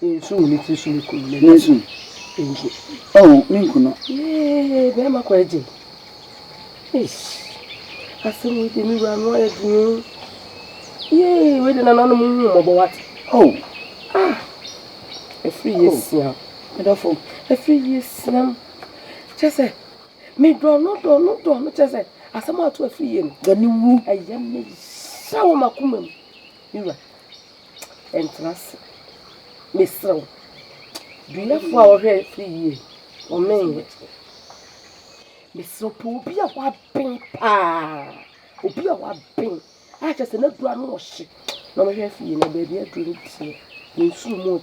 Nsu wɔ ne tiri so ne kunu ne nsu. Nsu. Oh, ne nkunu. Yee, bɛrima kɔ agye. Eish. Asɛm wei de me wura no ayɛ dene. Yee, wei de nananom hu mmɔbɔ wate. Oh. Ah. Ɛfiri yɛ siam. Medɔfo. Ɛfiri yɛ siam. Kyɛ sɛ, me dɔ no dɔ no dɔ no kyɛ sɛ, asɛm ato afiri yɛ no. Dɔ ne wu. Ɛyɛ me hyɛ wɔ m'akoma mu. Me wura. ɛntena ase. Mesrɛ wo. Duafoɔ a wɔhwɛ fie yie, wɔmenyɛ. Mesrɛ wo, pɛ obi a waben paa, obi a waben a kyerɛ sɛ n'aduro ano ɔhye na ɔmɛhwɛ fie na baabi aduro no teɛ. Mensuro mu o.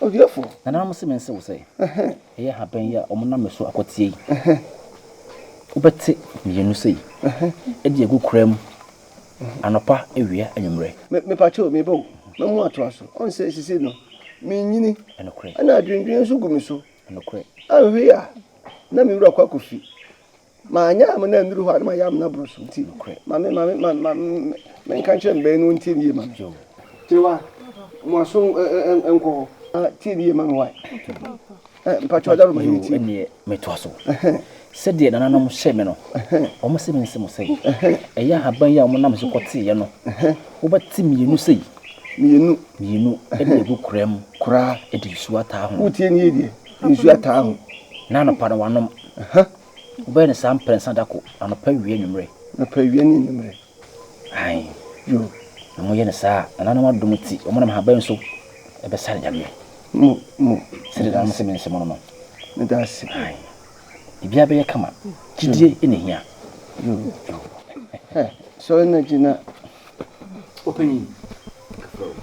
Odiafo. Nananom se mense wo sɛ, ɛyɛ habɛn yi a wɔnam me so akɔteɛ yi, wobɛte mmienu sei de agu koraa mu anɔpa, awia, anwummerɛ. Me, mepakyɛ o, mebɔ o, na mo atoa so. Ɔn sɛ sisi no, menyini. Ɛnokorɛ. Ɛna adwendwen nso gu me so. Ɛnokorɛ. Anhwɛ yi a, na me wura kɔ akɔfi. Manyɛ amena nnuru hɔ a na mayɛ amena boro so nti nokorɛ ma me ma me ma ma menka nkyerɛ me bɛn no ɔntie ne yie ma me. Tewa mo aso nkɔ hɔ. Tie ne yie ma me wae. Mpakyɛw daro ma yɛn tie. Ɛnneɛ metoa so sɛdeɛ nananom hyɛɛ me no. Wɔse mense mo sɛ, Ɛyɛ ahaban yi a wɔnam so kɔteeɛ no wobɛte mmienu sei. Mmienu. Mmienu de agu koraa mu. Koraa. De nsuo ataa ho. Wotie ne yie deɛ. Nsuo ataa ho. Na anɔpa no wanom. Wobɛyɛ no saa mprɛnsa da ko, anɔpa, awia, anwummerɛ. Anɔpa, awia ne anwummerɛ. Ae. Yo. Na moyɛ no saa a, nananom adom nti, wɔnam nhaban so bɛsare Nyame. Mo, mo. Sɛdeɛ daa mese mense mo no no. Meda ase. Ae. Biribiara bɛyɛ kama. Gyidie na ɛhia. Yo. Yo. Hɛ, sɔre na gyina. Ɔpanyin, frɛ wo.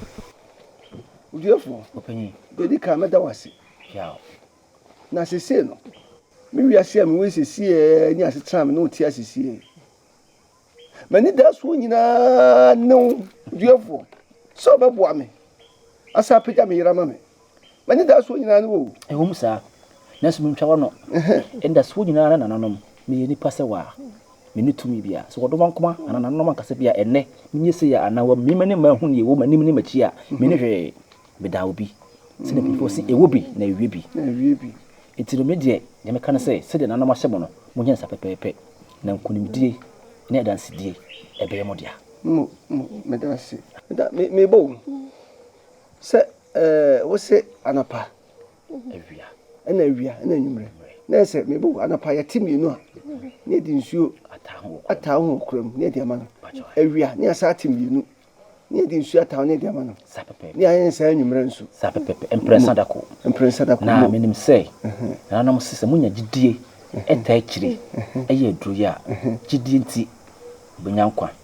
Odwoeɛfoɔ, Ɔpanyin, deɛ ɛdi kan mɛda wo ase. Piaw. Na seesei no, me wiase a mewɔ yi seesei ne asetena a me ne wo te a seesei, m'anidasoɔ nyinaa ne wo, Odwoeɛfoɔ, sɛ wobɛboa me asan apagya me yere ama me. M'anidasoɔ nyinaa ne wo. Ɛwom saa, nanso mentwa w'ano. Anidasoɔ nyinaa ne nananom, meyɛ nipa sɛ wo a. menni tumi biara. Sɛ wɔdɔ nwankoma anaa nananom ankasa bi a ɛnnɛ menyɛ sei a anaa wɔammue m'ani mma anhu nea ɛwɔ m'anim ne m'akyi a, menni hwee. Meda obi. Sɛnea Apuefoɔ se, Ɛwɔ bi na ɛwie bi. Enti no me deɛ, nea meka ne sɛ, sɛdeɛ nananom ahyɛ mo no, monyɛ no saa pɛpɛɛpɛ, na nkonimdie ne adansedie ɛbɛyɛ mo dea. Mo, mo, meda ase. Meda, me, mebɔ wo sɛ, ɛɛ, wose anɔpa. awia. Ɛna awia, ɛna anwummerɛ. Na ɛyɛ sɛ mebɔ wɔ anapa yɛte mmienu a, ne yɛde nsuo ataa ho wɔ koraa mu, ne yɛde ama no. Awia, ne yɛasan ate mmienu, ne yɛde nsuo ataa ho, ne yɛde ama no. Ne ayɛ ne saa anwummerɛ nso. Saa pɛpɛpɛ, mprɛnsa da ko. Mprɛnsa da ko. Na menim sɛ, nananom se sɛ monya gyidie ɛtaa akyire ɛyɛ aduro yi a, gyidie nti, mobɛnya nkwa.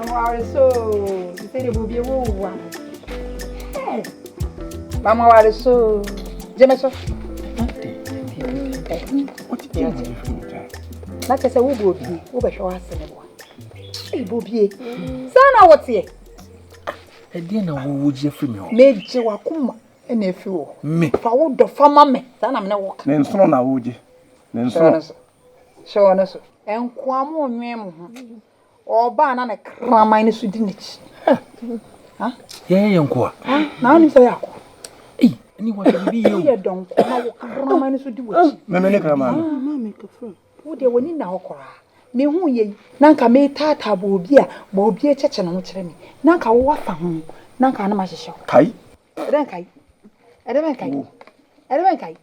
Ɔmaware so te sɛ deɛ bɔ obi ewu wa. Mama ware so gye me so. Na kyɛ sɛ wobɔ obi wobɛhwɛ w'ase ne boa. Ɛbɔ obie saa na woteɛ. Ɛdeɛ na wowo gye afiri me hɔ. Megye wakoma ɛna afiri wɔ. Me. Fa wo dɔ fa ma me saa na me ne wo ka. Ne nsono na wogye. Ne nsono. Hyɛ wɔn so. Nkoa mo nwɛn mo ho. Ɔba a na ne kraman no so di n'akyi. Yɛyɛ yɛn nkoa. Na wonim sɛ yɛakɔ. Ɛne wɔ sɛ biribi yɛ o. Yɛ dɔn kɔ na wo kraman no so di w'akyi. Mɛmɛ ne kraman no. Wo deɛ w'ani nna hɔ koraa. Mehu yɛ yi na nka metaataa bɔɔbi a bɔɔbi akyɛkyɛ ne ho kyerɛ me. Na nka wo afa ho na nka na mahyehyɛ wo. Kai. Ɛdɛ nkai. Ɛdɛ bɛ nkai. Ɛdɛ bɛ nkai.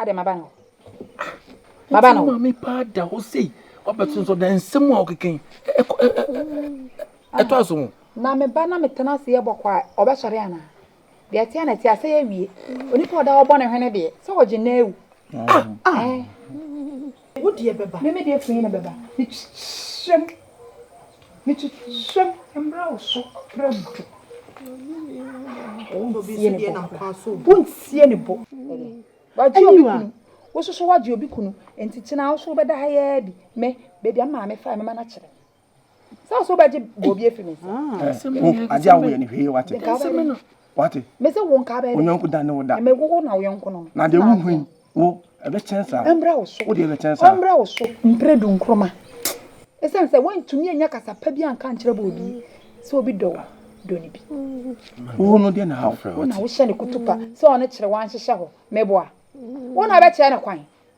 Adɛn maba ne hɔ. Maba ne hɔ. Maame paa da hɔ sei. Wabɛto nso na nsɛm a ɔkeka yi ɛtɔ aso ho. Na me ba na metena ase yɛ bɔkɔ a ɔbɛsɔre anaa? Deɛ ɛteɛ na ɛteɛ asɛe awie. Onipa ɔda hɔ bɔ ne hwene deɛ sɛ ɔgye na awu. Ah ah. Wo deɛ bɛba. Me me deɛ firi he na bɛba? Mekyerɛm, mekyerɛm mmra wo so prɛko. Wontie ne bo koraa. Wontie ne bo. Wagye obi kunu. Wo nso so woagye obi kunu. Nti kyena wo nso wobɛda ha yi ara bi. Me, baabi a me maame faeɛ mɛma no akyerɛ wo. sɛ so bɛgye bɔbi afi me nsam agye awo yɛ ne hwee wate wate mese wo nka bɛyɛ onyɔnko da ne wo da ɛmɛ wo na wo yɔnko no na de wo hui wo ɛbɛkyɛn saa ɛmbrɛ wo so wo de ɛbɛkyɛn saa ɛmbrɛ wo so mpere du nkroma ɛsiane sɛ woantumi anya kasa pa bi anka nkyerɛ bɔ obi sɛ obi dɔ wo dɔ ne bi wo no deɛ na ha wo na wohyɛ ne kutupa sɛ ɔne kyerɛ wanhyehyɛ hɔ meboa wo na bɛkyerɛ ne kwan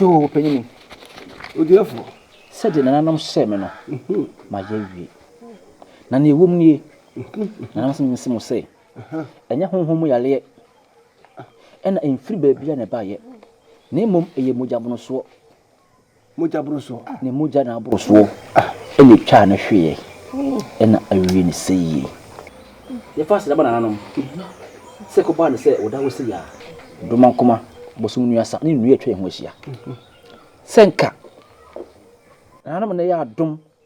Yoo, panyini. Odiɛfoɔ. Sɛdeɛ nananom hyɛɛ me no, mayɛ awie. Na nea ɛwom nie, nananom sɛ mense mo sɛ, ɛnyɛ honhom mu yareɛ Ɛna ɛmfiri baabiara na ɛbaeɛ, na mmom ɛyɛ mogyaborosoɔ. Mogyaborosoɔ. Ne mogya na aborosoɔ na ɛtwaa no hweeɛ, ɛna awie no sɛ yie. Yɛfa aseda ma nananom sɛ ɛkɔbaa no sɛ wɔda hɔ sei a, Domankoma, Bosom Nuasa, ne nnua a atwa yɛn ho ahyia. Sɛ anka nananom na ɛyɛ adom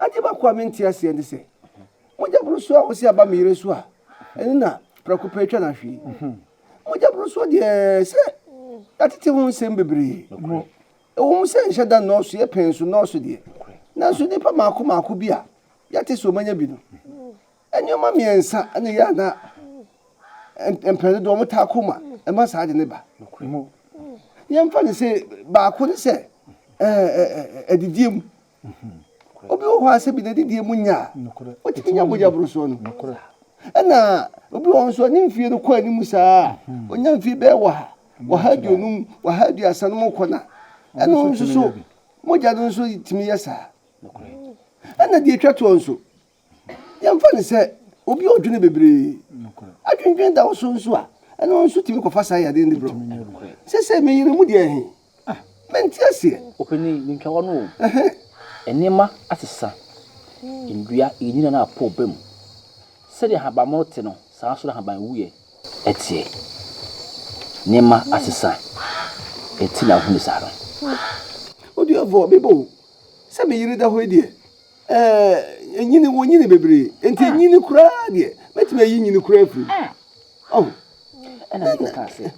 Ade baako a mente aseɛ ne sɛ, mogya borosoɔ a wɔse aba me yere so a, ɛno na prɛko pɛ atwa no ahwe yi? Mogya borosoɔ deɛ, sɛ yɛatete ho nsɛm bebree. Ɛwɔ mu sɛ nhyɛ da nnɔɔso, yɛ pɛn so nnɔɔso deɛ, nanso nnipa mmaako mmaako bi a yɛate sɛ wɔanya bi no, nneɛma mmiɛnsa na ɛyɛ a na mpɛn dodoɔ wɔtaa ko ma ɛma saa ade no ba. Yɛmfa no sɛ baako ne sɛ adidie mu, Obi wɔ hɔ a sɛ bi n'adidie mu nya a, ɔtumi nya mogyaborosoɔ no. Ɛna obi wɔ hɔ nso a ne mfie no kɔ anim saa a, ɔnya mfie bɛyɛ ɔha, ɔha aduonum, ɔha aduasa no mu kɔ na ɛno nso so mogya no nso tumi yɛ saa. Ɛna deɛ ɛtwa toɔ nso. Yɛmfa no sɛ obi a odwene bebree, adwendwen da wo so nso a, ɛno nso tumi kɔfa saa yadeɛ no brɛ wo. Seesei me yere mu deɛ he, mente aseɛ. Opanin, mentwa wo ano o. Nneɛma asesa, nnua, nnyina no apɔ aba mu. Sɛdeɛ ahabammono te no, saa nso na ahaban wuiɛ teɛ. Nneɛma asesa nti na wohu no saa no. Oduafoɔ, meba o. Sɛ me yere da hɔ yi deɛ, Ɛɛ, nyini, wonyini bebree. Enti ah. nyini koraa deɛ, mɛtumi ayi nyini koraa afiri mu. Ah. Oh. Ɛna meka kaa sɛ,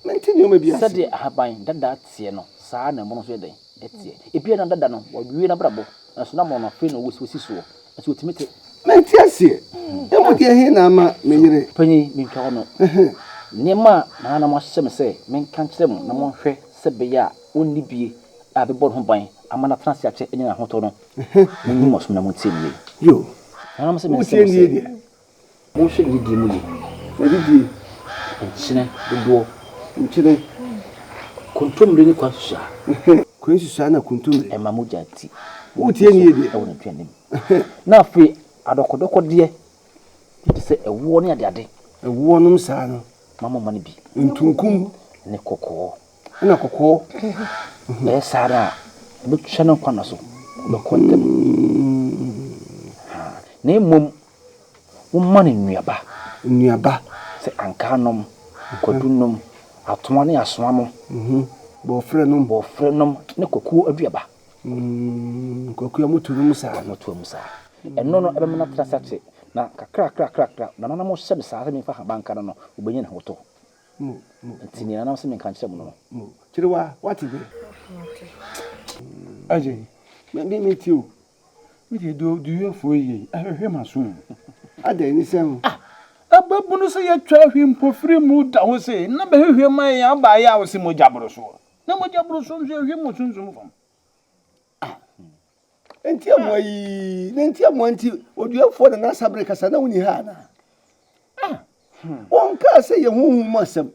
mente nneɛma bi ase. Sɛdeɛ ahaban dada teɛ no, saa na ɛmono nso yɛ dɛn? Ɛteɛ. Ebia na dada no, wawie n'abrabɔ, nanso na mono no afei na wɔsi soɔ. Nso wɔtumi te. Mente aseɛ. Ɛmu deɛ he na ama me yere. Panyin, menka hɔ no. Nneɛma a na na moahyɛ me sɛ menka nkyerɛ mo na monhwɛ sɛ bɛyɛ a onni bie a ɛbɛbɔ ne ho ban ama no atena ase akyɛ anya n'ahotɔ no, munyi mo asom na muntie me yie. Yo, Nanam sɛ merese mo sɛ, monhwɛ gyidie mu yie. Na gyidie. Nkyene dodoɔ. Nkyene. Kontommire ne kwansusuaa. Kwansusuaa na kontommire. Ɛma mogya ti. Wotie me yie deɛ. Ɛwɔ n'aduane mu. Na afei adɔkɔdɔkɔdeɛ bi te sɛ ɛwoɔ ne adeade. Ɛwoɔ nom saa no. Mma mo mma no bi. Ntunkum. Ne kɔkɔɔ. Ɛna kɔkɔɔ bɛyɛ saa ara a, ɔbɛtwa ne nkwa nna so, ɔbɛkɔ ntɛm. Na mmom momma no nnuaba. Nnuaba. Sɛ ankaa nom, kwadu nom, atoa ne asoa nom. Bɔɔferɛ nom. Bɔɔferɛ nom ne kwakuo aduaba. Kwakuo a moto no mu saa. Moto mu saa. Ɛno no ɛbɛma no atena ase akyɛ. Na kakrakrakrakra, nananom hyɛ me saa sɛ memfa habankra no, ɔbɛnya ne ho tɔ. Nti nea na ɔse menka nkyerɛ mo no no. Kyerewa, woate me? Ɛye, me de mete o. Me deɛ deɛ oduyɛfoɔ yi yɛi, ahwɛhwɛ m'aso mu. Adɛn ne sɛn o? Ah, ababunu sɛ yɛatwa ahwi mpofiri mu da hɔ sei, na bɛhwehwɛ ma yɛn abaayewa a ɔse mogya boro soɔ. Na mogya boro soɔ nso ɛhwe mo sunsum fam. Aho. Enti amoa yi, na enti amoa nti oduafoɔ na n'asa bere kasa na wonni ha anaa? Ah, hmm. Wɔn kaa sɛ yɛ honhom mu asɛm.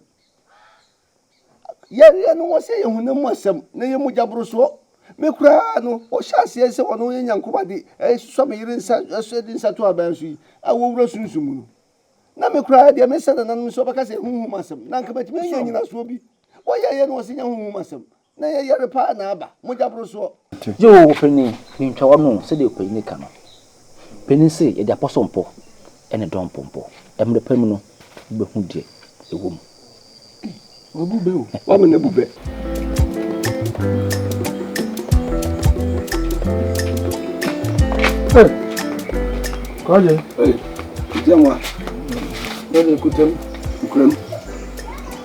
Yareɛ no wɔ sɛ yɛ honam mu asɛm na yɛ mogya borosoɔ. Me koraa no, wɔhyɛ aseɛ sɛ wɔn yɛ nyankomade ɛsusɔ me yere nsa ɛso ɛde nsa to aban so yi a wɔwura sunsum mu no. Na me koraa deɛ mesa nananom sɛ wɔbɛka sɛ yɛ honhom mu asɛm na anka matumi anya nyinasoɔ bi. Wɔyɛɛyɛ no wɔ sɛ nya honhom mu asɛm. Na yɛ yare paa na aba. Mogya boro soɔ. Gye oo ɔpanin me ntwa w'ano o sɛdeɛ ɔpanin no ka no panin se yɛde apɔso mpo ɛne dɔn mpo mpo mmerɛ pa mu no wo bɛ hu deɛ ɛwɔ mu. Wabu bɛ o w'amene abu bɛ. Hey kɔɔgye. Hey jɛmwa. Yɛde kutam kuram.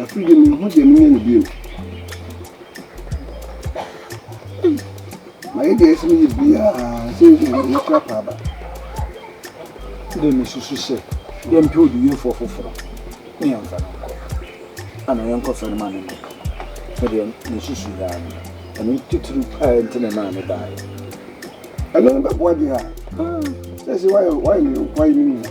Afei deɛ menhu deɛ menyɛ no bio. Mayɛ deɛ ɛsɛ meyɛ biara sɛ mɛkora paaba. Dɛ mesusu sɛ yɛmpɛ odiyifoɔ foforɔ ne yɛmfa no nkɔ ana yɛnkɔ fɛ no ma no nkɔka mu. Medeɛ mesusu yaa no ɛno titiri paa nti na ɛmaa me baeɛ. Ɛno no bɛboa deɛ a, sɛ sɛ woayɛ me nkoa yi me nua.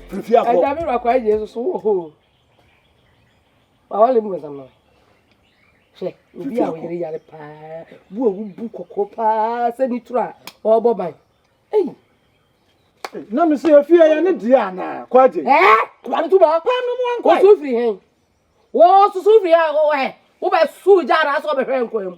Fifi akɔ. Ẹja mi rakọ ayẹ Yesu so wọ hoo. Wawale mbọnsam no. Hwɛ, obi a ɔyere yare paa, bu a wobu kɔkɔɔ paa sɛ ne turo a ɔrebɔ ban. Ei! Na me sɛ afie yɛ ne deɛ anaa kɔ agye. Ɛɛ! Kɔba no tu bɔ. Paa no mu ankɔ. Wɔsu firi hɛn. Wɔsu firi hɛn wɔ hɛ. Wobɛsu gya anaasɛ wɔbɛhwɛ nkwan mu.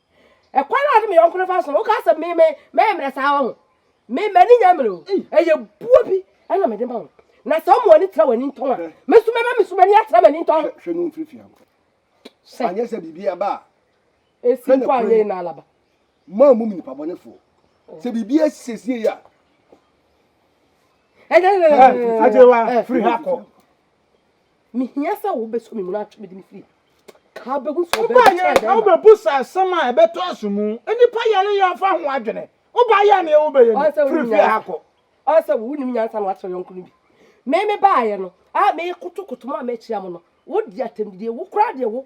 ɛkwan a ɔde me yɔnko no fa so no woka sɛ me me mɛmmerɛ saa wɔ ho me m'ani nya mmerɛ o ɛyɛ buo bi ɛna mede ma wo na sɛ ɔmo ani tra w'ani ntɔn a me so mɛma me so m'ani atra m'ani ntɔn hwɛ no mfiri fie ankɔ sɛ anyɛ sɛ biribi aba a ɛsi mpo anyɛ yi na alaba maa mu nipa bɔnefoɔ sɛ biribi asi asie a agyewa firi ha kɔ Mehia sɛ wobɛsɔ me mu na atwe me de me firi ka bɛhu sɛ ɔbɛn bi kyerɛ dɛn. Wobɛbu sa asɛm a ɛbɛtɔ aso mu. Nnipa yare yɛ ɔfa ho adwene. Woba yɛ neɛ wobɛyɛ ni. Firi fie ha kɔ. Ɔn sɛ wonim nyansa na wakyerɛ yɔnko no bi. Me me baayɛ no a mekotokoto mo a makyia mo no wodi atɛmdidie wo koraa deɛ wo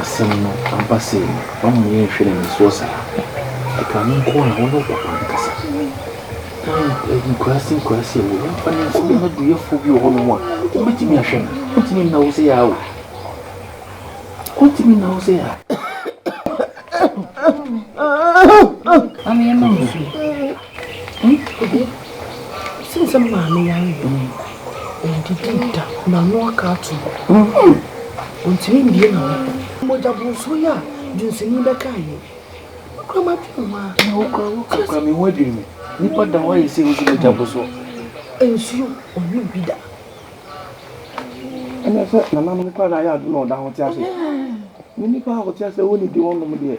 Asɛm no aba sei no, wama yɛnhwɛ no anisoɔ saa. Ɛka no nko a, wo ne wo papa nkasa. Ɛɛ nkuraase nkuraase a ɛwɔ mu, yɛmfa no nko. Yɛn aduyɛfoɔ bi wɔ hɔnom a, wɔbɛtumi ahwɛ no. Wɔntumi nna wo sɛ aa o. Wɔntumi nna wo sɛ aa. Maame yɛma nsuo. Ɔde ɛsiane sɛ maame yare nti ɔndidi da n'ano aka ato hɔ ɔntumi mbie n'ano mogya bonsuo yi a dwunsini bɛkae yi mekura m'adwene ho a wokura me ho adwene me nipa da hɔ ayɛ sɛ wosi mogya bonsuo nsuo ɔnwe bi da ɛnɛ sɛ nananom kora na ayɛ ado na ɔda ho te ase ne nipa a ɔte ase wɔ ne di hɔ nom deɛ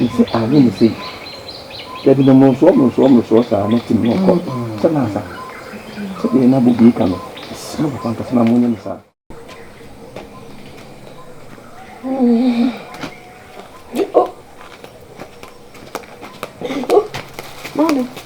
Ntsi a nye me sei. Dabi na morosoɔ morosoɔ morosoɔ saa na tim no kɔ sɛ naasa sɛdeɛ na bobi ka no mesrɛ papa nkasa na monyɛ me saa.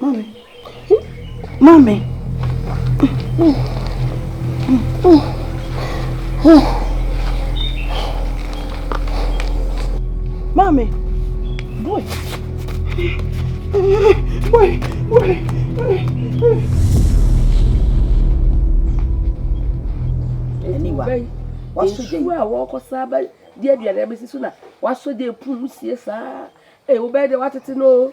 Mami. Mami. Mami. Boy. Boy. Boy. Aniwa. Wasu jɛ. Nsuo a wɔkɔ saa bɛ di aduane abɛsi so na wasu jɛ pum sie saa. Ee wobɛyɛ deɛ watete no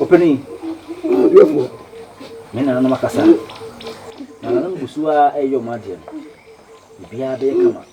Opanin, odiɛfoɔ, me nananom akasa. Nananom gu so ara ɛyɛ wɔn adeɛ no. Biribiara bɛyɛ kama.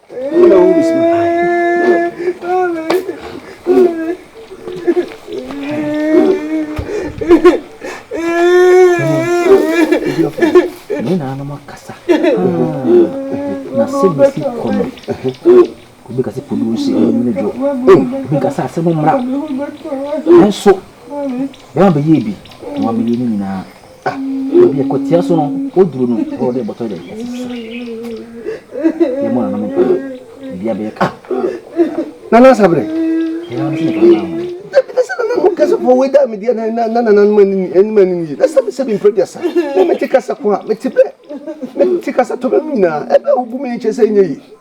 ne na anam akasa na sɛ bɛsi kɔ no obi kasa fo duro si ɛyɛ mene dwo obi kasa asɛm mmra nanso bɛma bɛyɛ bi na wabɛyɛ ne nyinaa Baabi a ɛkɔtia so no, woduru no, na wɔde bɔtɔ de asisi so. Yɛmmɔ nananom mpae, biribiara bɛyɛ ka. Nana Asaberɛ. Ɛyɛ ano sɛ nnipa baa ho. Ɛpɛ sɛ nana mo kasa fɔ wei da me deɛ na na nana no mani anim ani nie na sɛ sɛ mempɛ deɛ sa na mete kasa ko a mete bɛ mete kasa tɔ bɛ mu nyinaa ɛbɛ wobu me nkyɛ sɛ nyɛ yi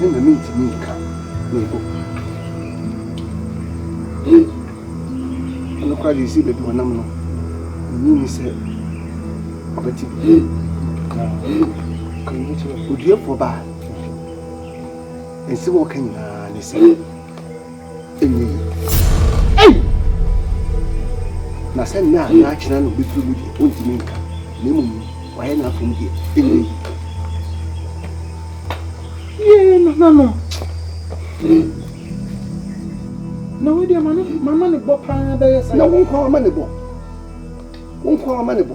ne na mentumi nka mpo. Ɛno koraa deɛ ɛsii baabi wɔnam no, menyi ni sɛ ɔbɛte bi. Na ka yi kyerɛ oduafoɔ baa. Nsɛm a ɔka nyinaa ne sɛ na sɛ nna a na akyena no bɛfiri mu deɛ ɔntumi nka na mmom wayɛ no afom deɛ ɛnyɛ yi yee nananom na wei deɛ mama ne bɔ paa bɛyɛ sɛ na wo nkoa wama ne bɔ wo nkoa wama ne bɔ